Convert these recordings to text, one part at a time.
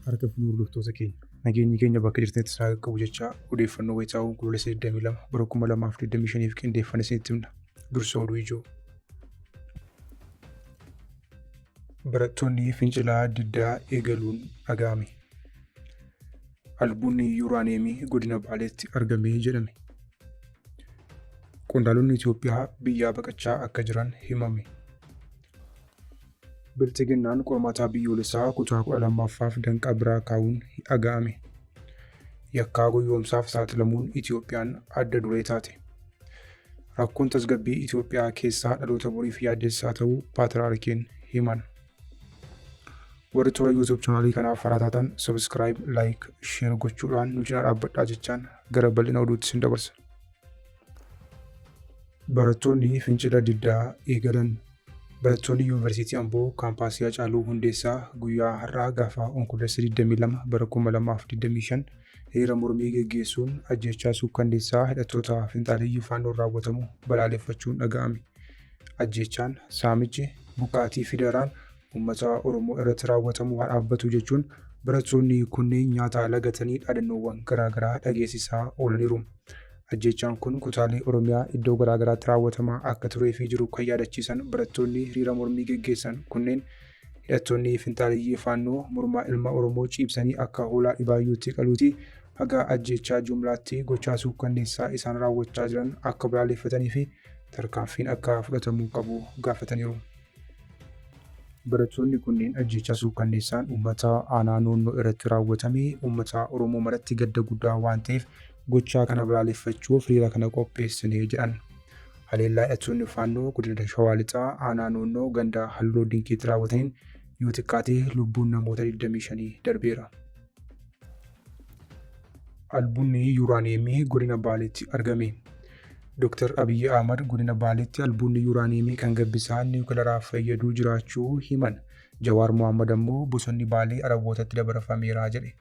harka fi hordoftoota keenya nageenyi keenya bakka jirtanitti isaa qaqqabu jechaa odeeffannoo wayitaawoo onkoloolessa 22 bara 2025 qindeeffame isinitti himna dursa oduu ijoo. Barattoonni fincilaa diddaa eegaluun dhaga'ame. Albuudni yuuraaniyeemii godina Baaleetti argame jedhame. Qondaalonni Itoophiyaa biyyaa baqachaa akka jiran himame. Bilxiginnaan qormaataa biyyoolessaa kutaa 12ffaaf danqaa biraa kaa'uun dhaga'ame. Yakkaa goyyoomsaaf saaxilamuun Itoophiyaan adda duree taate. Rakkoon tasgabbii Itoophiyaa keessaa dhaloota boriif yaaddessaa ta'uu Paatiraarkiin himan. Warri toora YouTube chaanaalii kanaaf haraa taatan subscribe, like, share gochuudhaan nu cina dhaabbadhaa jechaan gara bal'ina oduutti sin dabarsa. Barattoonni fincila diddaa eegalan. Barattoonni Yuunivarsiitii Amboo kaampaasii Hacaaluu Hundeessaa guyyaa har'aa gaafa Onkoloolessa 22 bara 2025 hiriira mormii geggeessuun ajjeechaa suukkanneessaa hidhattoota finxaaleyyii faannoon raawwatamu balaaleffachuun dhaga'ame. ajjeechaan, saamichi, buqqaatii fi daraan uummata Oromoo irratti raawwatamu haa dhaabbatu jechuun barattoonni kunneen nyaataa lagatanii dhaadannoowwan garaagaraa dhageessisaa oolaniiru. Ajjeechaan kun kutaalee Oromiyaa iddoo garaagaraatti raawwatamaa akka turee fi jiru kan yaadachiisan barattoonni hiriira mormii geggeessan kunneen hidhattoonni finxaaleyyii faannoo mormaa ilma Oromoo ciibsanii akka hoolaa dhibaayyuutti qaluuti haga ajjeechaa jumlaatti gochaa suukkanneessaa isaan raawwachaa jiran akka balaaleffatanii fi tarkaanfiin akka fudhatamuu qabu gaafataniiru. Barattoonni kunneen ajjeechaa suukkanneessaan uummata aanaa noonnoo irratti raawwatame uummata Oromoo maratti gadda guddaa waan ta'eef gochaa kana balaaleffachuuf hiriira kana qopheessine jedhan. Haleellaa hidhattoonni faannoo godina Shawaa Lixaa aanaa noonnoo ganda Halloo Dinqiitti raawwataniin yoo xiqqaate lubbuun namoota 25 darbeera. Albuunni yuuraaniyeemii godina Baaleetti argame. Dooktar Abiyyi Ahmad godina Baaleetti albuunni yuuraaniyeemii kan gabbisaa niwukilaraa fayyaduu jiraachuu himan. Jawaar Mohaammed ammoo bosonni Baalee Arabootatti dabarfameera jedhe.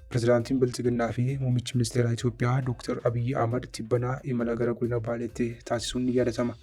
Pirezidaantiin Bilxiginnaa fi muummichi ministeeraa Itoophiyaa Dooktar Abiyyi Ahmad tibbanaa imala gara godina Baaleetti taasisuun ni yaadatama.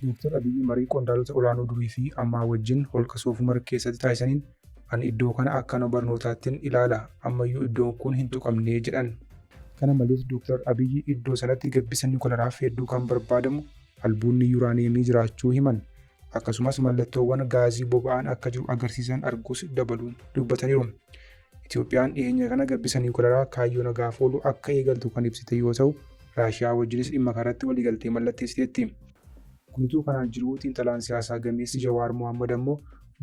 Dooktar Abiyyi marii qondaalota olaanoo durii fi ammaa wajjin holqa Soofumar keessatti taasisaniin Ani iddoo kana akkana barnootaattin ilaala, ammayyuu iddoon kun hin tuqamne, jedhan. Kana malees Dooktar Abiyyi iddoo sanatti gabbisa niwukilaaraaf hedduu kan barbaadamu albuudni yuraaniyeemii jiraachuu himan. Akkasumas mallattoowwan gaazii boba'aan akka jiru agarsiisan arguus dabaluun dubbataniiru. Itoophiyaan dhiheenya kana gabbisa niwukilaraa kaayyoo nagaaf oolu akka eegaltu kan ibsite yoo ta'u, Raashiyaa wajjinis dhimma kanarratti waliigaltee mallatteessiteetti. Guutuu kanaan jiruu xiinxalaan siyaasaa gameessi Jawaar Mohaammad ammoo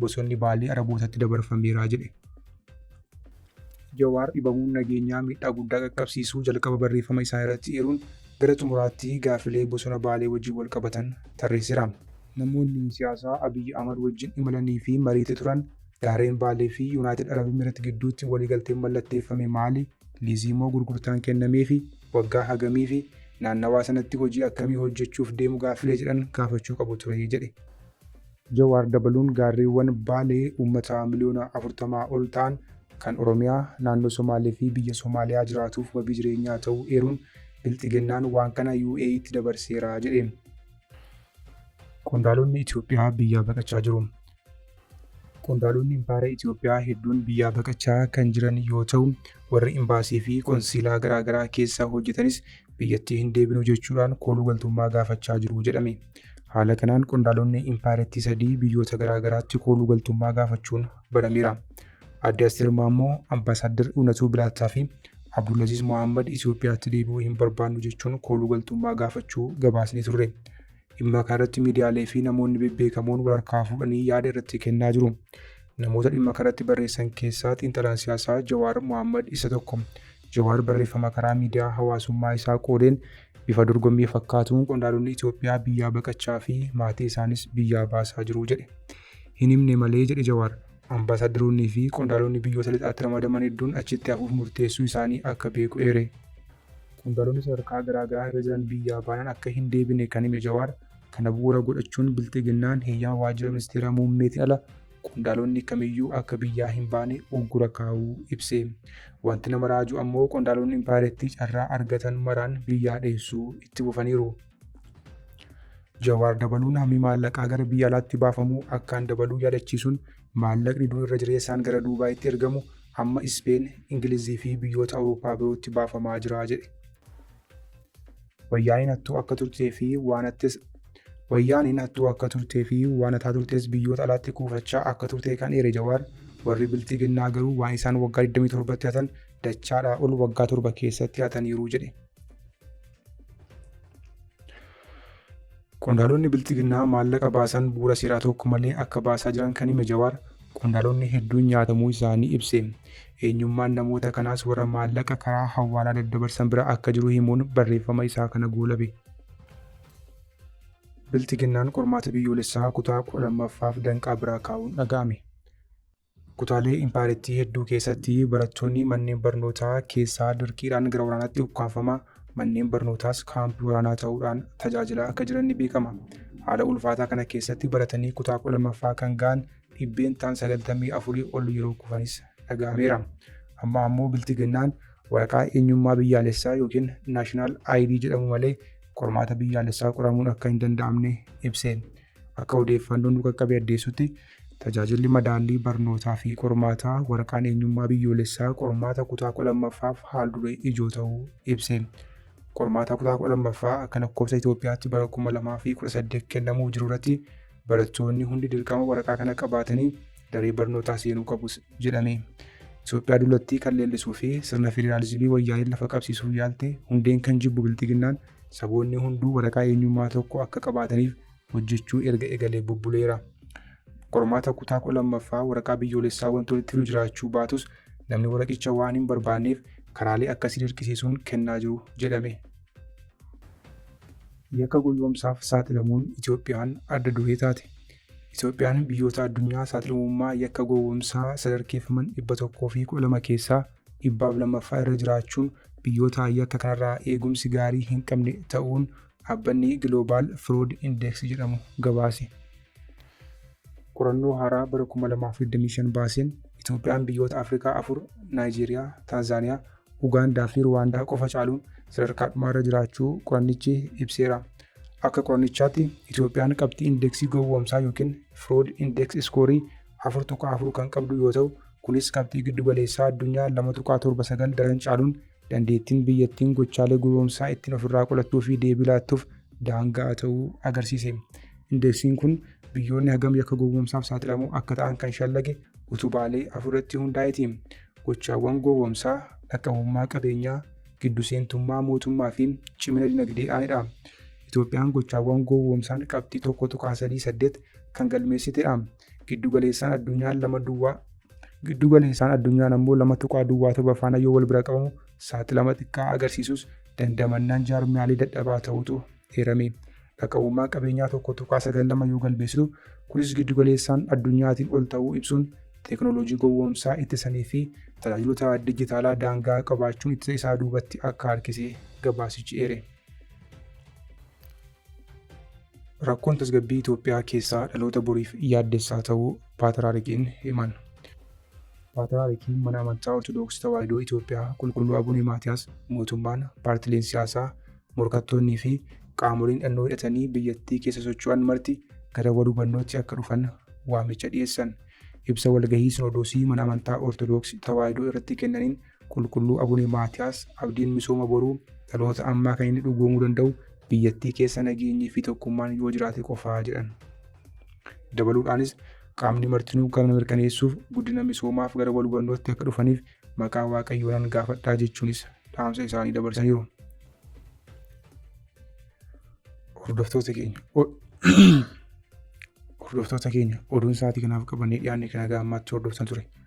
bosonni Baalee Arabootatti dabarfameera jedhe. Jawaar dhibamuun nageenyaa miidhaa guddaa qaqqabsiisuu jalqaba barreeffama isaa irratti eeruun gara xumuraatti gaaffilee bosona Baalee wajjin wal qabatan tarreesseera. Namoonni siyaasaa Abiy Ahmad wajjin imalanii fi mariitti turan gaarreen Baalee fi Yunaayitid Arab Emireet gidduutti waliigalteen mallatteeffame maali? Liizii moo gurgurtaan kennameefi? Waggaa hagamiifi? Naannawaa sanatti hojii akkamii hojjechuuf deemu gaaffilee jedhan gaafachuu qabu ture, jedhe. Jawaar dabaluun gaarreewwan Baalee ummata miliyoona 40 ol ta'an kan Oromiyaa, Naannoo Somaalee fi biyya Somaaliyaa jiraatuuf wabii jireenyaa ta'uu eeruun, Bilxiginnaan waan kana UAEtti dabarseera jedhe. Qondaalonni Itoophiyaa biyyaa baqachaa jiru. Qondaalonni Impaayera Itoophiyaa hedduun biyyaa baqachaa kan jiran yoo ta'u, warri imbaasii fi qonsiilaa garaagaraa keessa hojjetanis biyyattii hin deebinu jechuudhaan kooluu galtummaa gaafachaa jiru jedhame. Haala kanaan qondaalonni impaayerattii sadii biyyoota garaagaraatti kooluu galtummaa gaafachuun barameera. Aadde Asteer Maammoo, Ambaasaaddar Iwunatuu Bilaattaa fi Abdulaziz Mohaammed Itoophiyaatti deebi'uu hin barbaannu jechuun kooluu galtummaa gaafachuu gabaasnee turre. Dhimma kanarratti miidiyaalee fi namoonni bebbeekamoon wal harkaa fuudhanii yaada irratti kennaa jiru. Namoota dhimma kanarratti barreessan keessaa xiinxalaan siyaasaa Jawaar Mohaammad isa tokko. Jawaar barreeffama karaa miidiyaa hawaasummaa isaa qoodeen bifa dorgommii fakkaatuun qondaalonni Itoophiyaa biyyaa baqachaa fi maatii isaanis biyyaa baasaa jiru jedhe. Hin himne malee jedhe Jawaar. Ambaasaaddaroonnii fi qondaalonni biyyoota lixaatti ramadaman hedduun achitti hafuuf murteessuu isaanii akka beeku eere. Qondaalonni sadarkaa garaa garaa irra jiran biyyaa baanaan akka hin deebine kan hime Jawaar, kana bu'uura godhachuun Bilxiginnaan heyyama Waajjira Ministeera Muummeetiin ala qondaalonni kamiyyuu akka biyyaa hin baane uggura kaa'uu ibse. Wanti nama raaju ammoo qondaalonni impaayerattii carraa argatan maraan biyyaa dheessuu itti fufaniiru. Jawaar dabaluun hammi maallaqaa gara biyya alaatti baafamu akkaan dabaluu yaadachiisuun maallaqni dur irra jireessaan gara Duubaayitti ergamu amma Ispeen, Ingilizii fi biyyoota Awurooppaa birootti baafamaa jira jedhe. Wayyaaneen hattuu akka turtee fi waan hattes Wayyaaneen hattuu akka turtee fi waan hataa turtes biyyoota alaatti kuufachaa akka turte kan eere Jawaar warri bilxiginnaa garuu waan isaan waggaa 27tti hatan dachaadhaa ol waggaa torba keessatti hataniiru jedhe. Qondaalonni bilxiginnaa maallaqa baasan bu'uura seeraa tokko malee akka baasaa jiran kan hime Jawaar qondaalonni hedduun nyaatamuu isaanii ibse. Eenyummaan namoota kanaas warra maallaqa karaa hawwaalaa daddabarsan bira akka jiru himuun barreeffama isaa kana goolabe. Bilxiginnaan qormaata biyyoolessaa kutaa 12ffaaf danqaa biraa kaa'uun dhaga'ame. Kutaalee impaayerattii hedduu keessatti barattoonni manneen barnootaa keessaa dirqiidhaan gara waraanaatti ukkaamfamaa, manneen barnootaas kaampii waraanaa ta'uudhaan tajaajilaa akka jiran ni beekama. Haala ulfaataa kana keessatti baratanii kutaa 12ffaa kan ga'an dhibbeentaan 94 ol yeroo kufanis dhaga'ameera. Amma ammoo Bilxiginnaan waraqaa eenyummaa biyyaalessaa yookiin National ID jedhamu malee qormaata biyyaalessaa qoramuun akka hin danda'amne ibse. Akka odeeffannoon nu qaqqabe addeessutti Tajaajilli Madaallii Barnootaa fi Qormaataa waraqaan eenyummaa biyyoolessaa qormaata kutaa 12ffaaf haal-duree ijoo ta'uu ibse. Qormaataa kutaa 12ffaa akka lakkoofsa Itoophiyaatti bara 2018 kennamuuf jiru irratti barattoonni hundi dirqama waraqaa kana qabaatanii daree barnootaa seenuu qabus jedhame. Itoophiyaa dulattii kan leellisuu fi sirna federaalizimii wayyaaneen lafa qabsiisuu yaalte hundeen kan jibbu bilxiginnaan saboonni hunduu waraqaa eenyummaa tokko akka qabaataniif hojjechuu erga egalee bubbuleera. Qormaata kutaa 12ffaa waraqaa biyyoolessaa wanti walitti hidhu jiraachuu baatus namni waraqicha waan hin barbaanneef karaalee akkasii dirqisiisuun kennaa jiru jedhame. Yakka goyyoomsaaf saaxilamuun Itoophiyaan adda duree taate. Itoophiyaan biyyoota addunyaa saaxilamummaa yakka gowwoomsaa sadarkeeffaman 112 keessaa 200ffaa irra jiraachuun biyyoota yakka kanarraa eegumsi gaarii hin qabne ta'uun dhaabbanni Global Fraud Index jedhamu gabaase. Qorannoo haaraa bara 2025 baaseen Itoophiyaan biyyoota Afrikaa afur Naayijeeriyaa, Taanzaaniyaa, Ugaandaa fi Ruwaandaa qofa caaluun sadarkaa dhumaarra jiraachuu qorannichi ibseera. Akka qorannichaatti Itoophiyaan qabxii indeeksii gowwoomsaa yookiin Fraud Index iskoorii 4.4 kan qabdu yoo ta'u, kunis qabxii giddu galeessaa addunyaa 2.79 daran caaluun Dandeettiin biyyattiin gochaalee gowoomsaa ittiin ofirraa qolattuu fi deebii laattuuf daanga'aa ta'uu agarsiise. Indeeksiin kun biyyoonni hagam yakka gowoomsaaf saaxilamoo akka ta'an kan shallage utubaalee afurratti hundaa'eeti. Gochaawwan gowoomsaa, dhaqqabummaa qabeenyaa, giddu seentummaa mootummaa fi cimina dinagdee aanedha. Itoophiyaan gochaawwan gowoomsaan qabxii 1.38 kan galmeessitedha. Giddugaleessaan addunyaan lama duwwaa giddugaleessaan addunyaan ammoo lama tuqaa duwwaa torba faana yoo wal bira qabamu saaxilama xiqqaa agarsiisus dandamannaan jaarmiyaalee dadhabaa ta'utu eerame. Dhaqabummaa qabeenyaa tokko tuqaa sagal lama yoo galmeessisu kunis giddugaleessaan addunyaatiin ol ta'uu ibsuun teeknooloojii gowwoomsaa ittisanii fi tajaajilota dijitaalaa daangaa qabaachuun ittisa isaa duubatti akka harkise gabaasichi eere. Rakkoon tasgabbii Itoophiyaa keessaa dhaloota boriif yaaddessaa ta'uu Paatraarikiin himan. Paatraarikiin mana amantaa Ortodoksii Tawaahidoo Itoophiyaa Qulqulluu Abune Maatiyaas mootummaan, paartileen siyaasaa, morkattoonnii fi qaamoleen hidhannoo hidhatanii biyyattii keessa socho'an marti gara wal hubannootti akka dhufan waamicha dhiyeessan. Ibsa walgahii Sinodoosii mana amantaa Ortodoksii Tawaahidoo irratti kennaniin Qulqulluu Abune Maatiyaas abdiin misooma boruu dhaloota ammaa kan inni dhugoomuu danda'u biyyattii keessa nageenyii fi tokkummaan yoo jiraate qofaa jedhan. Dabaluudhaanis qaamni martinuu kana mirkaneessuuf guddina misoomaaf gara wal hubannootti akka dhufaniif maqaa waaqayyoonan gaafadhaa jechuunis dhaamsa isaanii dabarsaniiru. Hordoftoota keenya Hordoftoota keenya oduun sa'aatii kanaaf qabannee dhiyaanne kan haga ammaatti hordoftan ture.